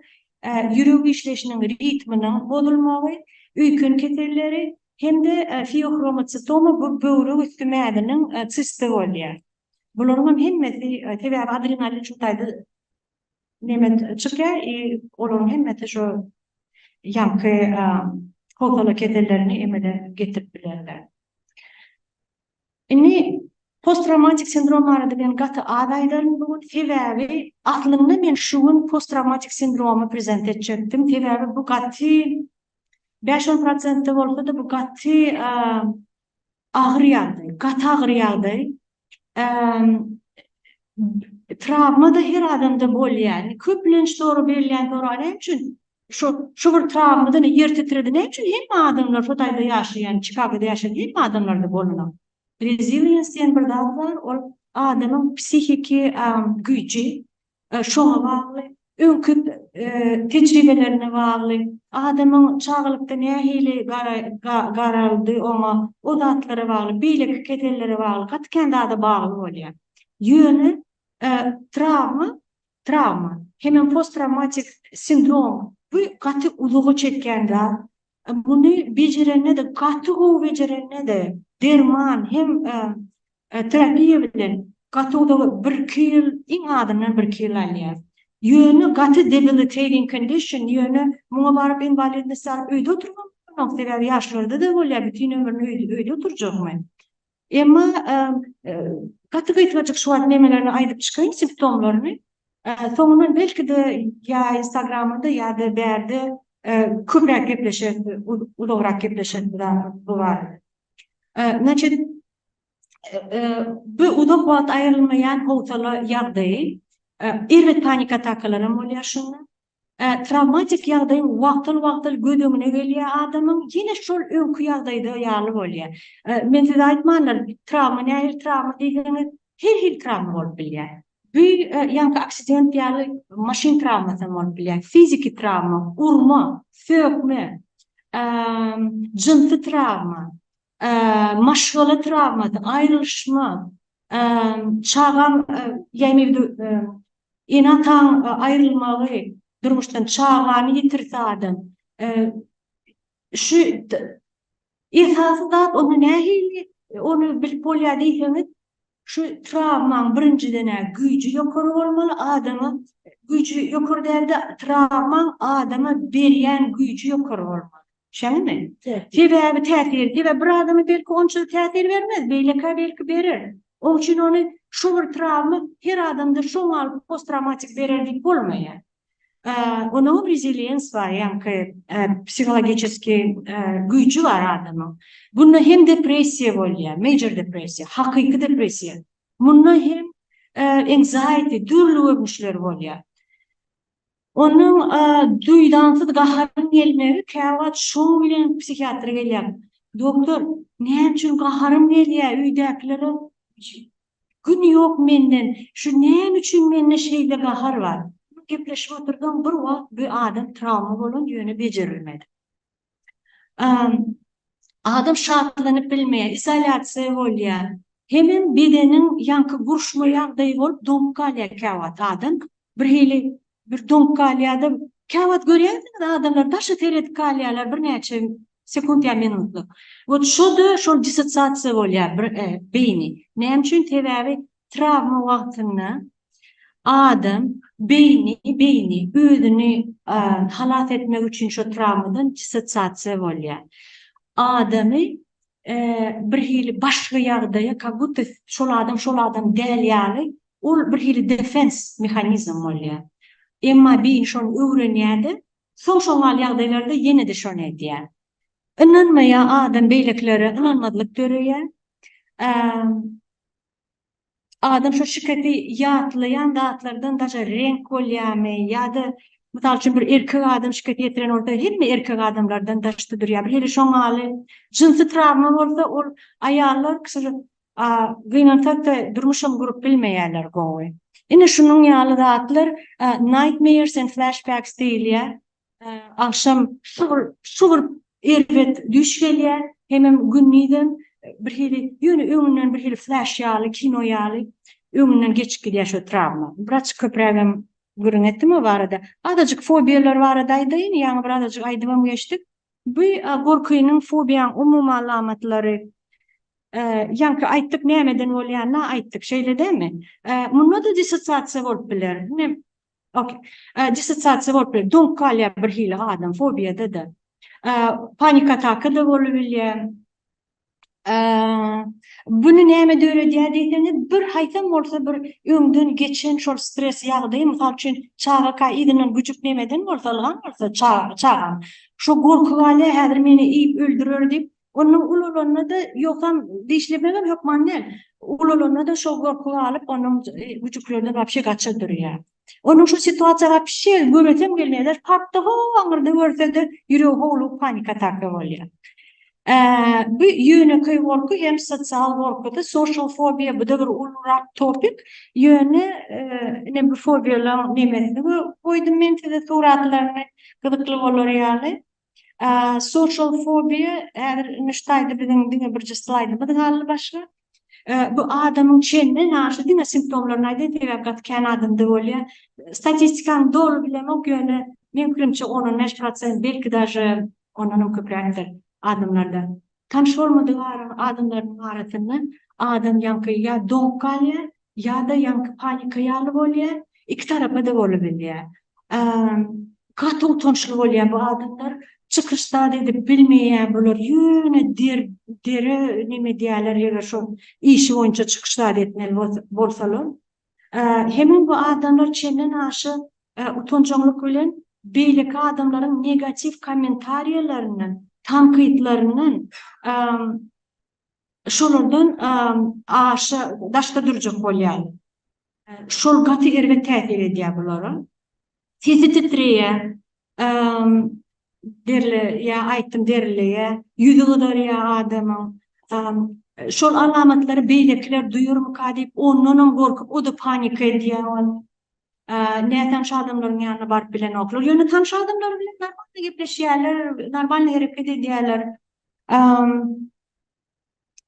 Ýürek işleýşiniň ritminiň bozulmagy, öýken keselleri hem-de feohromocitoma, bu böwrek üsti mäziniň sisti bolýar. Bularyňam hemmesi sebäbi adrenalin şu taýda neme çykýar i olaryň hemmesi şu ýaňky howsala kesellerini emele getirip bilerler. Indi post-trawmatik sindrom barada men gaty az aýdaryn bu gün, sebäbi aslynda men şu gün post-trawmatik sindromy prezent etjekdim, sebäbi bu gaty bäş-on prosentde bolsa-da bu gaty agyr ýagdaý, gaty agyr ýagdaý, trawma-da her adamda bolýar. Köplenç soraw berilýän soraw näme üçin şu, şu bir trawma-da ýer titredi, näme üçin hemme adamlar şu taýda ýaşaýan, Çikagoda ýaşaýan hemme adamlarda bolanok? Resilience diýen bir zat bar, ol adamyň psihiki güýji, Şoňa bagly, öňki tejribelerine bagly, adamyň çagalykda nähili garaldy oňa, o zatlara bagly, beýleki kesellere bagly, gaty kän zada bagly bolýar. Ýöne trawma, trawma, hemem posttrawmatik sindrom, bu gaty uzaga çekýän zat, Muny bejerende-de, gaty gowy bejerende-de, derman hem terapiýa bilen gaty uzaga, birki ýyl, iň azyndan birki ýyl alýar. Ýöne gaty debilitating condition, ýöne muňa baryp inwalidnosty alyp öýde oturmaly bolanok, sebäbi ýaşlarda-da bolýar, bütin ömrüni öýde oturjakmy? Emma gaty gysgajyk şu wagt nemelerini aýdyp çykaýyn simptomlaryny. Soňundan belki-de ýa instagramda ýa-da bärde köpräk gepleşeris, uzagrak gepleşeris bu barada. Значит, bu uzak wagt aýrylmaýan howsala ýagdaýy, erbet panik atakalaram bolýar şunda. Trawmatik ýagdaý wagtal-wagtal göz öňüne gelýär adamyň, ýene şol öňki ýagdaýda ýaly bolýar. Men size aýtmandyr, trawma nähili trawma diýseňiz, her hili trawma bolup bilýär. Bu ýaňky aksident ýaly maşyn trawmasy hem bolup bilýär, fiziki trawma, urma, sökme, jynsy trawma, maşgala trawmasy, aýrylyşma, çagaň, ýagny Ene-ataň aýrylmagy, durmuşdan çagany ýitirse adam, şu esasy zat onda nähili ony bilip bolýar diýseňiz, şu trawmaň birinjiden-ä güýji ýokary bolmaly, adama güýji ýokary däl-de, trawmaň adama berýän güýji ýokary bolmaly. Şeýlemi? Sebäbi täsir, sebäbi bir adama belki onça täsir bermez, beýlekä belki berer. Oň üçin ony şu bir trawma her adamda şoň alyp post-trawmatik berer diýip bolmaýar. Onuňam reziliens bar, ýaňky psihologiçeski güýji bar adamyň. Bunda hem depressiýa bolýar, major depressiýa, hakyky depressiýa. Munda hem anxiety, dürli görnüşleri bolýar. Onuň duýdansyz gaharyň gelmegi käwagt şoň bilen psihiatra gelýär. Doktor, näme üçin gaharym gelýär, öýdäkilere gün ýok menden, şu näme üçin mende şeýle gahar bar? Gepleşip otursaň, bir wagt bu adam trawma bolan, ýöne bejerilmedi. Adam şatlanyp bilmeýär, izolýasiýa bolýar. Hemem bedeniň ýaňky buruşma ýagdaýy bolup doňup galýar käwagt adam. Bir hili bir doňup galýar-da, käwagt görýärsiňiz adamlar daşa seredip galýarlar birnäçe sekunt ýa minutlyk. Wot şo-da şol dissosiasiýa bolýar beýni. Näme üçin? Sebäbi trawma wagtynda adam beýni beýni özüni halas etmek üçin şu trawmadan dissosiasiýa bolýar. Adamy bir hili başga ýagdaýa kak budda şol adam şol adam däl ýaly ol bir hili defens mehanizm bolýar. Emma beýni şony öwrenýär-de, soň şoň ýaly ýagdaýlarda ýene-de şony edýär. Ynanmaýar adam beýlekilere ynanmazlyk döreýär. Adam şu şikesi ýatlaýan zatlardan daşa reňk bolýarmy ýa-da mysal üçin bir erkek adam şikes ýetiren bolsa hemme erkek adamlardan daşda durýar. Bir hili şoň ýaly jynsy trawma bolsa ol aýallar gynansak-da durmuşam gurup bilmeýärler gowy. Ine şunuň ýaly zatlar nightmares and flashbacks diýilýär. Agşam şu bir erbet düýş gelýär, hemem gündizem birhili, ýöne öňünden birhili flaş ýaly, kino ýaly öňünden geçip gidýär şo trawma. Biraz köprägem gürrüň etdim o barada. Azajyk fobiýalar barada aýdaýyn, ýaňy bir azajyk aýdybam geçdik. Bu gorkynyň, fobiýaň umumy alamatlary, ýaňky aýtdyk nämeden bolýanyny-a aýtdyk, şeýle dälmi? Munda-da dissosiasiýa bolup biler. Okey. E, Dissosiasiýa bolup biler. Doňup galýar bir hili adam, fobiýada da. E, Panik ataka da bolup bilýär. E, Buny näme döredýär diýseňiz, bir haýsam bolsa bir öňden geçen şol stres ýagdaýy, mysal üçin, çagaka yzyndan güjük nemeden bolsa, ylgan bolsa, ça- çagam. Şo gorky galýar, häzir meni iýip öldürer diýip, Onuň ulalanda-da, ýogsam dişlemegem hökman däl, ulalanda-da şol gorky galyp, onuň güjüklerden wapşe gaça durýar. Onuň şu situasiýa wapşe göresem gelmeýär, parkda ho-o aňyrda görse-de, ýüregi howlugyp panik ataka bolýar. Bu ýönekeý gorky hem sosial gorkydy, social phobia, bu-da bir ulurak topik, ýöne ine bu fobiýalaryň nemesini goýdum men size suratlaryny, gyzykly bolar ýaly. Social fobia häzir nuştaýda biziň diňe birje slaýdymyz galdy başga. Bu adamyň çenden ýaşy diňe simptomlaryny aýdaýyn sebäbi gaty kän adamda bolýar. Statistikany doly bilemok ýöne meň pikirimçe on on bäş prosent belki daže ondanam köpräkdir adamlarda. Tanyş bolmadyk araň adamlarynyň arasynda adam ýaňky ýa doňup galýar, ýa-da ýaňky panika ýaly bolýar, iki tarapa-da bolubilýär. Gaty utançly bolýar bu adamlar, çykyş zat edip bilmeýär bular, ýöne dere neme edýärler eger şol işi boýunça çykyş zat etmeli bolsalar. Hemem bu adamlar çenden aşa utanjaňlyk bilen beýleki adamlaryň negatiw kommentariýalaryndan, tankytlaryndan şolardan aşa daşda durjak bolýarlar. Şol gaty erbet täsir edýär bulara. Sesi titreýär. Derli ýa aýtdym derliýä. Ýüzi gyzarýa adamyň. Şol alamatlary beýlekiler duýarmyka diýip ondanam gorkup oda panika edýä ol. Nä tanş adamlaryň ýanyna baryp bilenoklar. Ýöne tanş adamlar bilen normalny gepleşýäler, normalny hereket edýäler.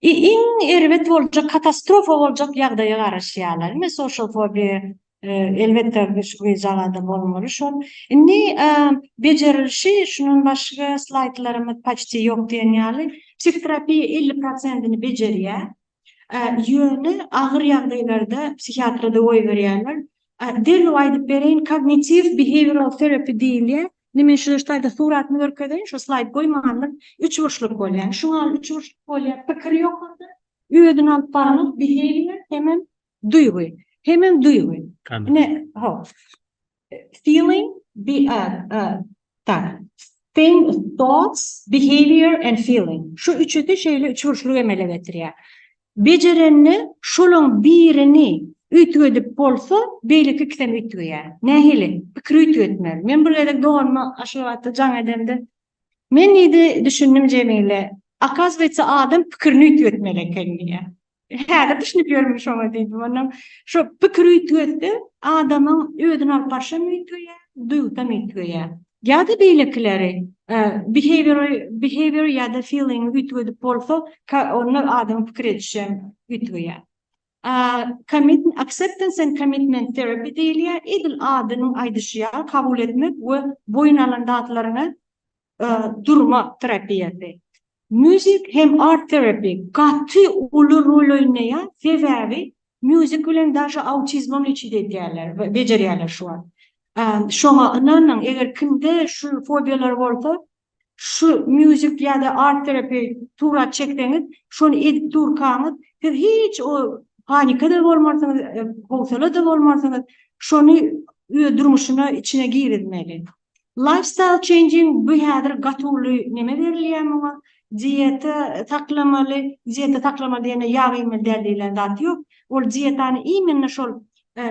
I iň erbet boljak katastrofa boljak ýagdaýa garaşýarlar. Indi social phobia elbetde güýzalada bolmaly şol. Indi bejerilişi şundan başga slaýdlarymyz paçti ýok diýen ýaly. Psihoterapiýa elli prosentini bejerýär. Ýöne agyr ýagdaýlarda psihiatra da goýberýärler. Derrew aýdyp bereýin kognitiw behaviral terapi diýilýär. Indi men şu ştaýda suratyny görkezeýin, şu slaýd goýmandyr. Üçburçluk bolýar. Şu gal üçburçluk bolýar. Pikir ýok onda. Özüni alyp barmak behavior hemem duýgy. Hemem duýgy. Ine, ho. Feeling be a a tak. Thing, thoughts, behavior and feeling. Şu üçüsi şeýle üçburçlugy emele getirýär. Bejerende şolaň birini üýtgedip bolsa, beýleki ikisem üýtgeýär. Nähili? Pikiri üýtgetmeli. Men bir gezek doganyma Aşgabatda jaň edemde, Men diýdi, düşündim Jemile, Akazywetse adam pikirini üýtgetmeli eken diýýär. Häzir düşünip ýörmün şoňa diýdim. Onnoň şo pikiri üýtgetse, adamyň özüni alyp barşam üýtgeýär, duýgusam üýtgeýär. Ýa-da beýlekileri, behavior, behavior ýa-da feeling üýtgedip bolsa, onda adam pikir edişi hem üýtgeýär. Commit, acceptance and commitment therapy diýilýär, edil adynyň aýdyşy ýaly, kabul etmek we boýun alan zatlaryňa durmak terapiýasy. Music hem art therapy gaty uly rol oýnaýar sebäbi music bilen daşy autizmam lečit edýärler we bejerýärler şu wagt şoňa ynanyň eger kimde şu fobiýalar bolsa şu music ýada art therapy surat çekseňiz şony edip durkaňyz siz hiç o panikada bolmarsyňyz howsalada bolmarsyňyz şony durmuşyna içine girizmeli. Lifestyle changing bu häzir gaty uly neme berilýär muňa, dieta saklamaly, dieta saklamaly diýende ýag iýmeli däl diýlen zat ýok. Ol dietany imенно şol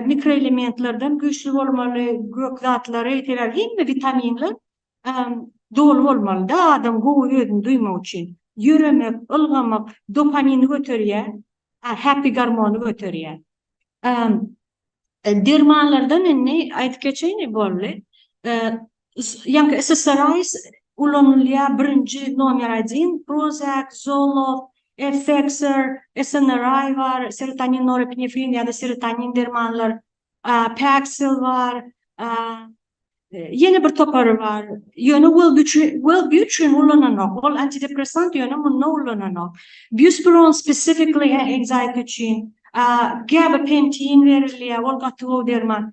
mikroelementlerden güýçli bolmaly, gök zatlary, sebäbi hemme witaminler doly bolmalyda adam gowy özüni duýmak üçin. Ýöremek, ylgamak dopamin göterýär, Happy gormony göterýär. Dermanlardan indi aýdyp geçeýin boldy. Ýaňky SSRIs ulanylýar birinji nomer adin Prozac, Zoloft, Effexor, SNRI bar, serotonin, norepinefrin ýa-da serotonin dermanlar Paxil bar, ýene bir topary bar. Ýöne Wellbutrin üçin ulananok. Ol antidepressant, ýöne munda ulananok. Buspirone specifically anxiety üçin. Gabapentin berilýär, ol gaty gowy derman.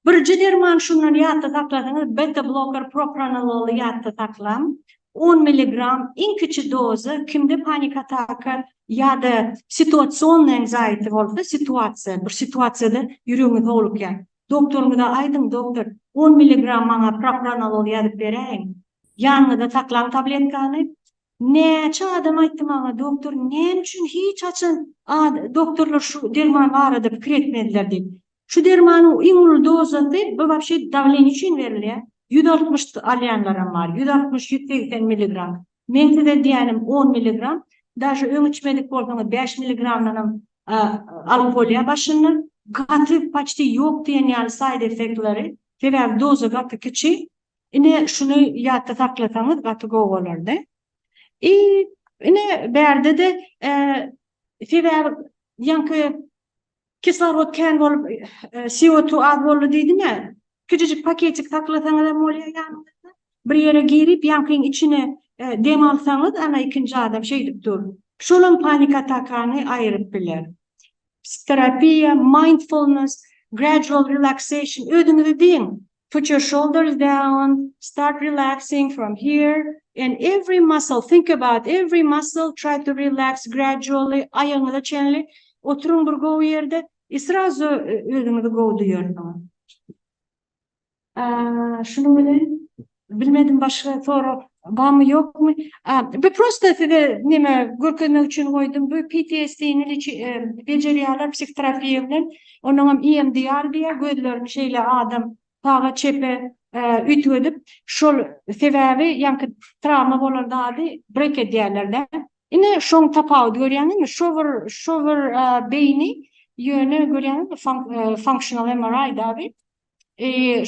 Birje derman şundan ýatda saklasaňyz, beta-bloker propranololy ýatda saklaň. On milligram iň kiçi doza kimde panik ataka ýa-da situasionnay anxiety bolsa situasiýa bir situasiýada ýüregiňiz howlukýar doktoryňyza aýdyň doktor on milligram maňa propranolol ýazyp beräýiň ýanyňyzda saklaň tabletkany näçe adam aýtdy maňa doktor näme üçin hiç haçan doktorlar şu derman barada pikir etmediler diýip Şu dermanyň iň uly dozasy bu wapşe dawleniýa üçin berilýär. Ýüz altmyş alýanlaram bar, ýüz altmyş, ýüz segsen milligram. Meň size diýýänim on milligram. Daže öň içmedik bolsaňyz bäş milligramdanam alyp bolýar başynda. Gaty paçti ýok diýen ýaly saýd effektleri. Sebäbi doza gaty kiçi. Ine şuny ýatda saklasaňyz gaty gowy bolardy. I ine bärde-de sebäbi ýaňky Kislorod kän bolup, CO2 az boldy diýdim-ä. Kiçijik paketik saklasaňyzam bolýar ýanyňyzda. Bir ýere girip, ýaňkyň içine dem alsaňyz, ana ikinji adam şeýdip dur. Şolam panik atakany aýyryp biler. Psihoterapiýa, mindfulness, gradual relaxation, özüňizi diň, Put your shoulders down, start relaxing from here and every muscle, think about every muscle, try to relax gradually, aýagyňyza çenli oturyň bir gowy ýerde, i srazu özüňizi gowy duýarsyňyz. Şunuň bilen bilmedim başga sorag barmy ýokmy? Bu prosta size näme görkezmek üçin goýdum. Bu PTSD-ni bejerýärler psihoterapiýa bilen. Onuňam EMDR diýýär, gözlerini şeýle adam saga çepe üýtgedip, şol sebäbi ýaňky trawma bolan zady brek edýärler-de. Ine şoň tapawudy görýäňizmi? Şo bir şo bir beýni ýöne görýäňizmi functional MRI dagy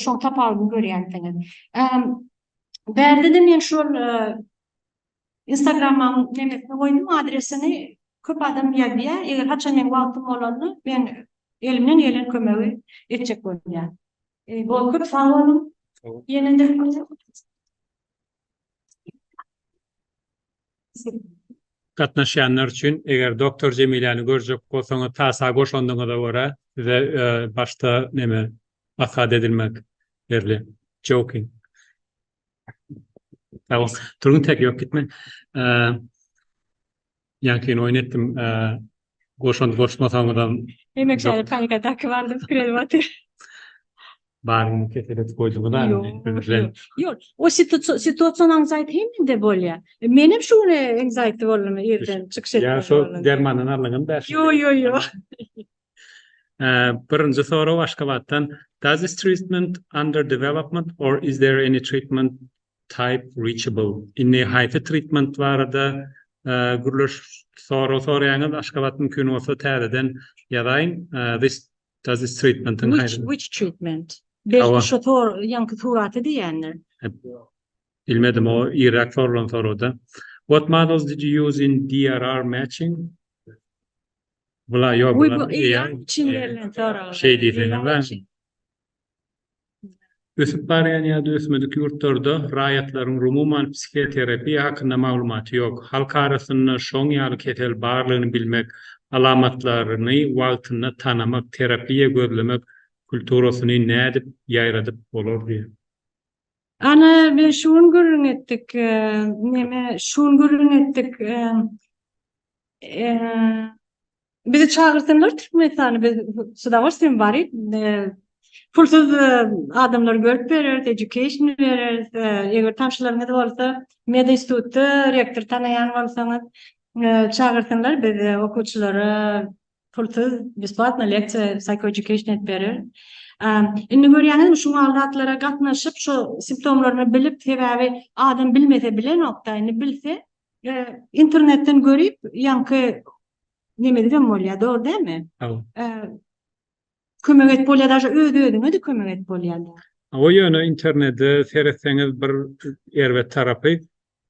şoň tapawudyny görýänsiňiz. Bärde-de men şol Instagrammaň nemesine goýdum adresini köp adam ýazýa eger haçan meň wagtym bolanda men elimden gelen kömegi etjek bolýa. Bol köp sag boluň. Ýenede Gatnaşýanlar üçin eger Doktor Jemiläni görjek bolsaňyz tasa goşandyňyza görä size başda neme asgad edilmek berli. Joking. Sag bol. Turgun tek ýok gitme. Ýaňky gün oýun etdim. Goşant goşmasaňyzam. Hemek şäher tanka daky bardy pikir edip otyr. Baryny kesel edip goýduňyz a. Ýok. O situasiýa aňzaýt hemede bolýa. Menem şu gün aňzaýt boldum irden çykyş etdim. Ýa şo dermandan alnyňyzmy bäş. Ýok ýok ýok. Birinji sorag Aşgabatdan. Does this treatment under development or is there any treatment type reachable? Indi haýsy treatment barada gürleş sorag soraýaňyz Aşgabat mümkin bolsa täzeden ýazaýyň. This does this treatment which treatment? Belki şu sorag ýaňky suraty diýýändir. Bilmedim o irräk sorulan soragda. What models did you use in DRR matching? Bula ýok. Uý bu eýýäm çyn berlen sorag. Şeý diýseňiz bäri. Ösüp barýan ýa-da ösmedik ýurtlarda raýatlaryň rumuman psihoterapiýa hakynda maglumaty ýok. Halk arasynda şoň ýaly kesel barlygyny bilmek, alamatlaryny wagtynda tanamak, terapiýa gözlemek kulturasyny nädip ýaýradyp bolar diýýär. Ana men şu gün gürrüň etdik. Neme şu gün gürrüň etdik. Bizi çagyrsynlar Türkmenistana biz sudawa sen bari pulsuz adamlar görüp bereris, education bereris. Eger tanşylaryňyz bolsa, med institutda rektor tanaýan bolsaňyz çagyrsynlar biz okuwçylara Pulsuz, besplatno leksiýa, psychoeducation edip berer. Indi görýäňizmi, şu mal zatlara gatnaşyp, şo simptomlaryny bilip, sebäbi adam bilmese bilenok-da, indi bilse, internetden görüp, ýaňky nemedigem bolýar, dogry dälmi? Kömek edip bolýar, daşa öz-özüňe-de kömek edip bolýar. Hawa, ýöne internete seretseňiz bir erbet tarapy,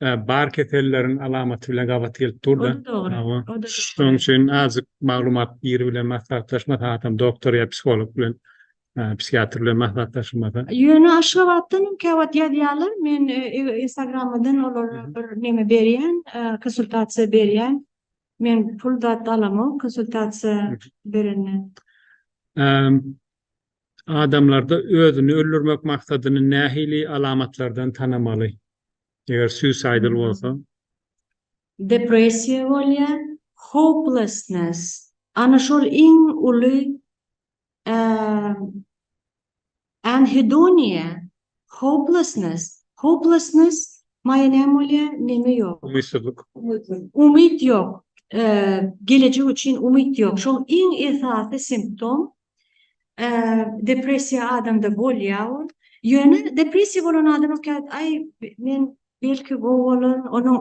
Bar keselleriň alamaty bilen gabat gelip dur-da. O-da dogry. Hawa. O-da dogry. Şonuň üçin azajyk maglumat biri bilen maslahatlaş, maslahatam doktor ýa psiholog bilen, psihiatr bilen maslahatlaşylmasa. Ýöne Aşgabatdan hem käwagt ýazýarlar. Men Instagrammadan olara bir neme berýän, konsultasiýa berýän. Men pul zat alamok konsultasiýa berenden. Adamlarda özüni öldürmek maksadyny nähili alamatlardan tanamaly? Eger suicidal bolsa. Depressiýa bolýar, hopelessness, ana şol iň uly e, anhedoniýa, hopelessness, hopelessness maýa näme bolýar, neme ýok, Umytsyzlyk. umyt ýok, e, gelejek üçin umyt ýok. Şol iň esasy simptom depressiýa adamda bolýa ol. Ýöne depressiýa bolan adam ökde aý men belki gowy bolar, onuň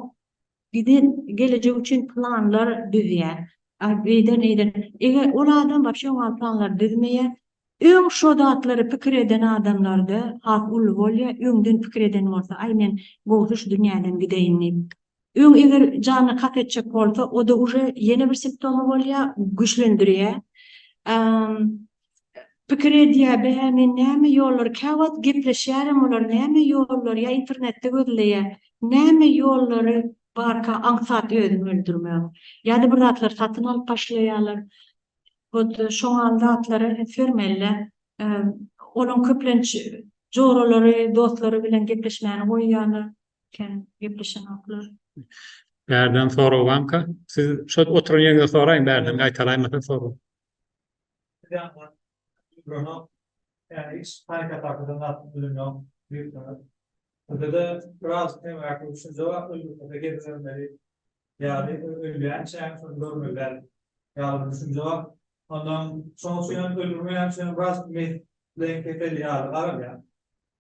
giden gelejek üçin planlar düzýär. Beýden eýden eger ol adam wapşe oňa planlar düzmeýär. Öň şo zatlary pikir eden adamlarda has uly bolýa, öňden pikir eden bolsa aý men gowsy şu dünýäden gideýin diýip. Öň eger janyny kast etjek bolsa, o-da uje ýene bir simptomy bolýar, güýçlendirýär. Pikir edýär, bä, men näme ýollar, käwagt gepleşýärem olar, näme ýollar, ýa internetde gözleýär, näme ýollary barka aňsat özüni öldürmegiň. Ýa-da bir zatlar satyn alyp başlaýarlar. Hut şoňa zatlara üns bermeli-dä. Olaň köplenç joralary, dostlary bilen gepleşmäni goýýarlar. Kem gepleşenoklar. Bärden sorag banka. Siz şo oturan ýeriňizde soraýyň bärden gaýtalaýmasa sorag.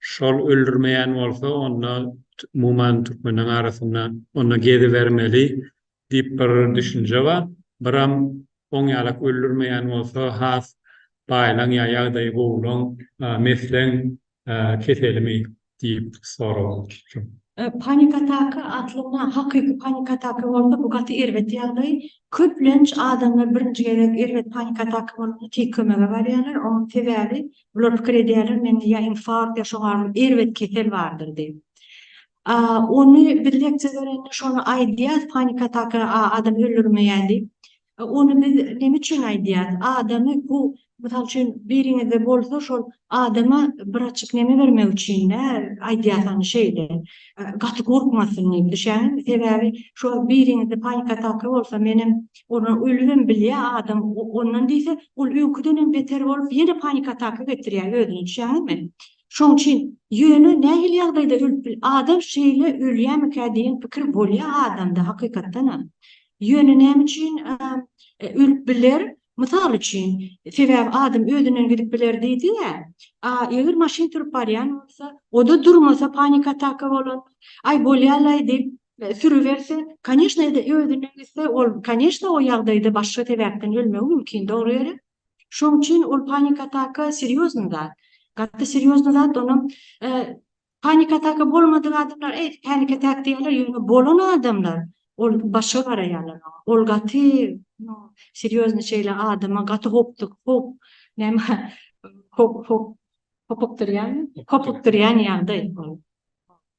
Şol öldürmeýän bolsa onda umuman türkmenleriň arasynda onda gezibermeli diýip bir düşünje bar. Biram oň ýalak öldürmeýän bolsa has baýlaň ýa ýagdaýy gowulaň mesleň keselimi diýip sorapdyr. Panik ataka aslynda hakyky panik ataka bolsa bu gaty erbet ýagdaý. Köplenç adamlar birinji gezek erbet panik ataka bolanda tiz kömege barýarlar. Onuň sebäbi Bular pikir edýärler, mende ýa infarkt, ýa şoňa erbet kesel bardyr diýip. Ony biz leksia berende şony aýdýas, panik ataka adam öldürmeýär diýip. Ony biz näme üçin aýdýas? Adamy bu, mysal üçin, biriňizde bolsa, şol adama bir açyk näme bermek üçin-dä aýdýas ony şeýle, gaty gorkmasyn diýip, düşýäňizmi? Sebäbi şo biriňizde panik ataka bolsa, menem Ony ölübem bilýär adam, ondan diýse, ol öňküdenem beter bolup, ýene panik ataka getirýär özüne, düşýäňizmi? Şoň üçin, ýöne nähili ýagdaýda ölüp bil, adam şeýle ölýämikä diýen pikir bolýar adamda hakykatdanam. Ýöne näme üçin ölüp biler? Mysal üçin, sebäbi adam özünden gidip biler diýdi-ä, a eger maşyn sürüp barýan bolsa, o-da durmasa panik ataka bolan, aý bolýa-laý diýip, sürüberse, koneşnede özünden gitse, ol koneşne o ýagdaýda başga sebäpden ölmegi mümkin, dogry ýeri. Şoň üçin ol panik ataka serýozny zat. Gaty serýozny zat, onam panik ataka bolmadyk adamlar eý, panik atak diýýärler, ýöne bolan adamlar ol başga garaýarlar oňa. Ol gaty serýozny şeýle adama gaty hopduk, hop, näme, hop, hop, hopukdyrýan, hopukdyrýan ýagdaý ol.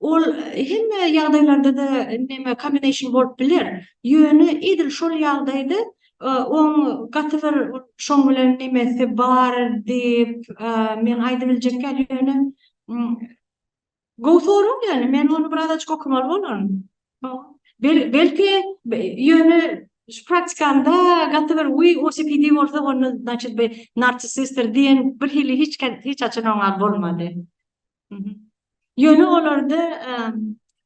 Ol hemme ýagdaýlarda-da näme kombination bolup biler. Ýöne edil şol ýagdaýda oň gaty bir şoň bilen nemesi bar diýip men aýdyp biljekýan ýöne gowy sorag ýöne men ony biraz açyk okamaly bolaryn. Belki ýöne praktikamda gaty bir we OCPD bolsa onda znaçit bir narcissistdir diýen birhili hiç haçan oňa bolmady. Ýöne olarda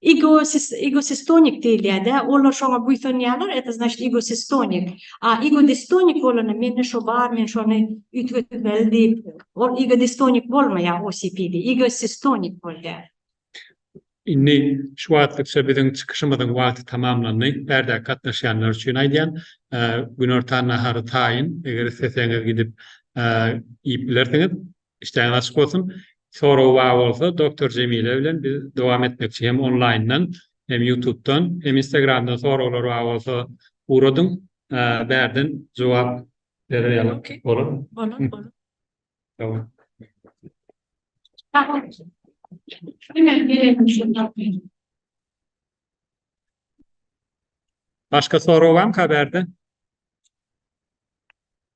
igosistonik diýilýär-de, olar şoňa buýsanýarlar, et znaçit igosistonik. A igodistonik bolanda mende şo bar, men şony üýtgetmeli diýip, ol igodistonik bolmaýar OCPD, igosistonik bolýar. Indi şu wagtlykça biziň çykyşymyzyň wagty tamamlandy. Bärde gatnaşýanlar üçin aýdýan, günortan nahary taýyn, eger isleseňiz gidip iýip bilersiňiz. Işdäňiz açyk bolsun. Soragy bar bolsa Doktor Jemile bilen biz dowam etmekçi hem onlaýyndan hem ýutubdan hem instagramdan soraglar bar bolsa ugradyň bärden jogap bererýalyk bolar. Bolar bolar. Sagbol. Başga sorag barmyka bärde?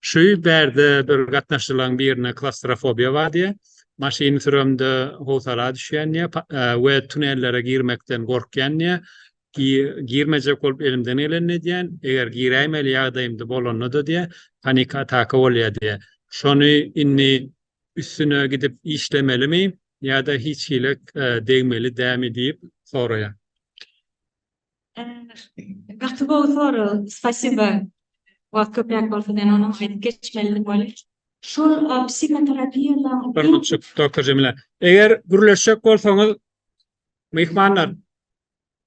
Şu bärde bir gatnaşyjylaň birine klawstrofobiýa bar diýýär. Maşyny süremde howsala düşýän diýýär we tunellere girmekden gorkýan diýýär. Girmejek bolup elimden gelenini edýän, eger giräýmeli ýagdaýymda bolanda-da diýýär, panik ataka bolýar diýýär. Şony indi üstüne gidip işlemelimi ýa-da hiç hili degmeli dämi diýip soraýar. Gaty gowy sorag. Spasiba. Wagt köpräk bolsa men ony aýdyp geçmelidi welin. Şol psihoterapiýalaryň. Hormatjyk Doktor Jemile. Eger gürleşjek bolsaňyz myhmanlar,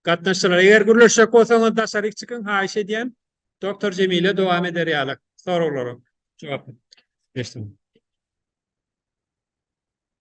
gatnaşyjylar eger gürleşjek bolsaňyz daşaryk çykyň haýyş edýän. Doktor Jemile dowam eder ýaly soraglara jogap. Geçdim.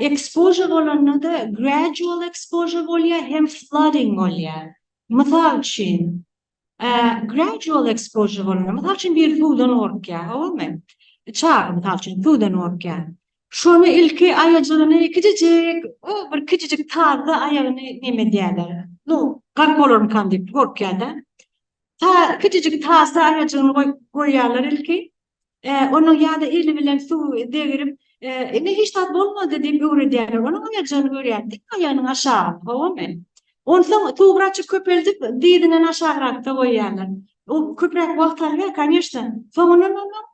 Exposure bolanda-da gradual exposure bolýar hem flooding bolýar. Mysal üçin, gradual exposure bolanda, mysal üçin, biri suwdan gorkýar, howamy? Çaga, mysal üçin, suwdan gorkýar. Şony ilki aýajygyny kiçijik, o bir kiçijik tazda aýagyny näme edýärler, nu, gark bolarmykam diýip gorkýar-da. Ta, kiçijik tazda aýajygyny goýýarlar ilki. Onuň ýa-da eli bilen suwy degrip, Ine, hiç zat bolmady diýip öwredýärler. Onuň aýyrjagyny görýär. Dik aýagynyň aşagyny, howamy? Onsoň suwy birazjyk köpeldip, dyzyňdan aşagrakda goýýarlar. O köpräk wagt alýar, kanyşna. Soňundan onuň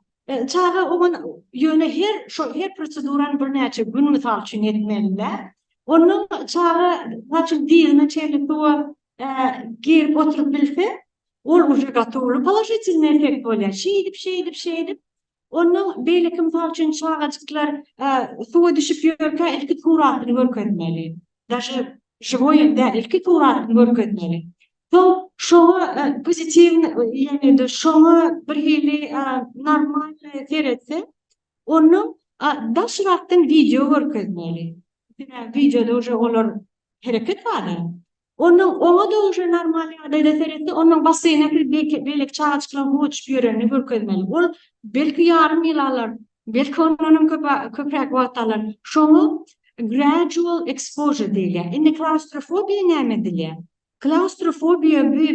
çaga oňa ýöne her şol her prosedurany birnäçe gün mysal üçin etmeli-dä. Onuň çaga, mysal üçin, dyzyna çenli suwa girip oturyp bilse, Ol uje gotowly polaşitilnyý effekt bolýar. Şeýdip, şeýdip, şeýdip, onnoň beýleki mysal üçin çagajyklar suwa düşüp ýörkä ilki suratyny görkezmeli. Daže žiwoý hem däl, ilki suratyny görkezmeli. Soň şoňa pozitiwny, ýagny şoňa birhili normalnyý seretse, onnoň daşrakdan wideo görkezmeli. Sebäbi wideoda uje olar hereket bar-a. Onnoň oňa doguşa normal ýagdaýda seretse, onnoň basseýne kir beýke beýleki çagajyklaryň suwa düşüp ýörenini görkezmeli. Ol belki ýarym ýyl alar, belki ondan hem köp a köpräk wagt alar. Şoňa gradual exposure diýilýär. Indi klaustrofobiýa näme edilýär? Klaustrofobiýa bu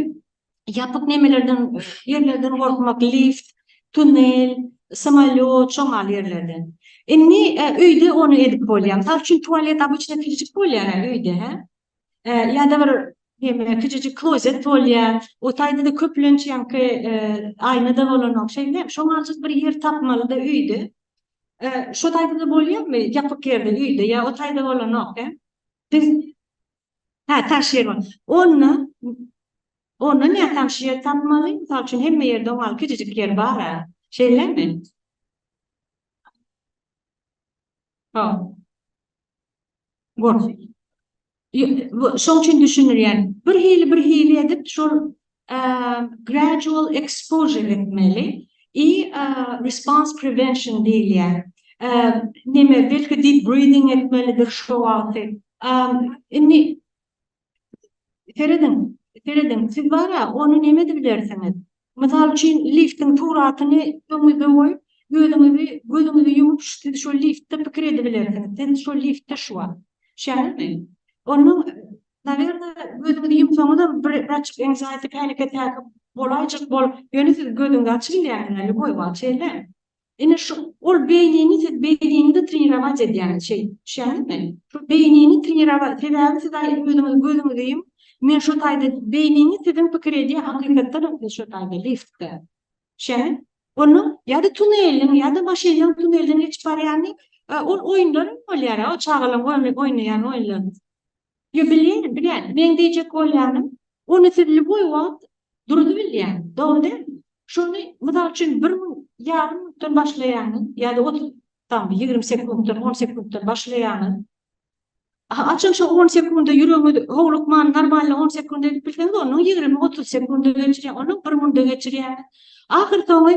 ýapyk nemelerden, ýerlerden gorkmak, lift, tunnel, samolýot, şoň ýaly ýerlerden. Indi öýde ony edip bolýar. Mysal üçin tualet obычna kiçijik bolýar-a öýde, hä? Ýa-da bir hemme kiçijik klozet bolýar. O taýda-da köplenç ýaňky aýna-da bolanok. Şeýle, şoňa aljak bir ýer tapmaly-da öýde. Şo taýda-da bolýarmy? Ýapyk ýerde, öýde ýa o taýda bolanok, hä? Biz Hä, taş ýer bar. Onda, onda näme taş ýer tapmaly? Mysal üçin, hemme ýerde oňa kiçijik ýer bar-a. Şeýlemi? Hop. Bor. Şoň üçin düşündirýän. Bir hili bir hili edip şol gradual exposure etmeli i response prevention diýilýär. Neme belki deep breathing etmelidir şo wagty. Indi Serediň, serediň, siz bar-a, ony näme edip bilersiňiz? Mysal üçin, liftiň suratyny öňüňizde goýup, gözüňizi, gözüňizi ýumup, siz şol liftde pikir edip bilersiňiz. Siz şol liftde şu wagt. Şähermi? Onda, nawerne, gözüňizi ýumsaňyzam, bir açyk anxiety, panic attack bolaýjak bolup, ýöne siz gözüňizi açyp bilýärsiňiz, lýuboý wagt, şeýlemi? Ine şu ol beýnini siz beýninizi trenirować edýäniz şeý düşýäňizmi? Şu beýnini trenirowal sebäbi siz aý özüňiz gözüňizi ýum men şo taýda beýnini siziň pikir edýä hakykatdanam siz şo taýda liftde düşýäňiz onuň ýa-da tuneliň ýa-da maşynyň tunelden geçip barýany ol oýunlar hem bolýar o çagalaň oýnaýan oýunlary. Ýa bilýän, bilýän. Meň diýjek bolýanym, ony siz lýuboý wagt duruzy bilýän, dogry dälmi? Şony, mysal üçin, bir mün, ýarym minutdan başlaýaňyz ýa-da otuz, tam bir ýigrimi sekuntdan, on sekuntdan başlaýaňyz. Aha, haçan şo on sekunda ýüregiňiz howlukman, normalny on sekunda edip bilseňiz, onuň ýigrimi, otuz sekunda geçirýäňiz, onuň bir münde geçirýäňiz. Ahyrsoňy,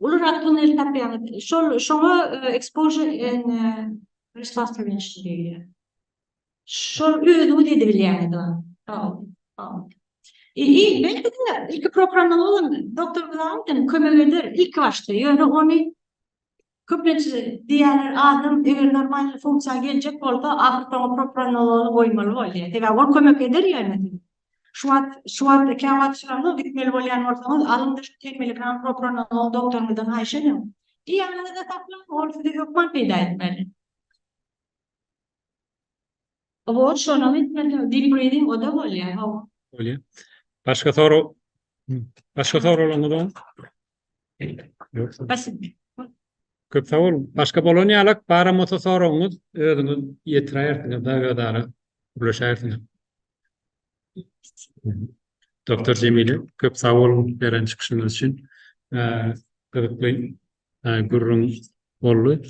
Ulurak tunel tapýaňyz. Şol şoňa exposure and response prevention diýilýär. Şol özüňiz edip bilýäňiz ony. Haw, haw. Ýa-ni belki de ilki programmaly bolan doktor Glaunten kömek eder ilki başda, ýöne ony köplenç-e diýýärler, adam eger normal funksiýa geljek bolsa, ahyrsoňy propranolony goýmaly bolýar. Sebäbi ol kömek eder ýöne. Şu wagt, şu wagt kä wagt şyraňňa gitmeli bolýan bolsaňyz, alyň düşüp tegmili kran prokuroryňyzdan, doktoryňyzdan haýyş ediň. Di ýanyňyzda saklaň, ol size hökman peýda etmeli. Oba ol şonam etmeli, deep breathing oda bolýar, hawa. Bolýar. Başga sorag, başga soraglaryňyz barmy? Köp sag boluň. Başga bolan ýalak baram bolsa soragyňyz özüňiz ýetiräýersiňiz da özara gürleşäýersiňiz. Doktor Jemile köp sag boluň beren çykyşyňyz üçin. Gyzykly gürrüň boldy.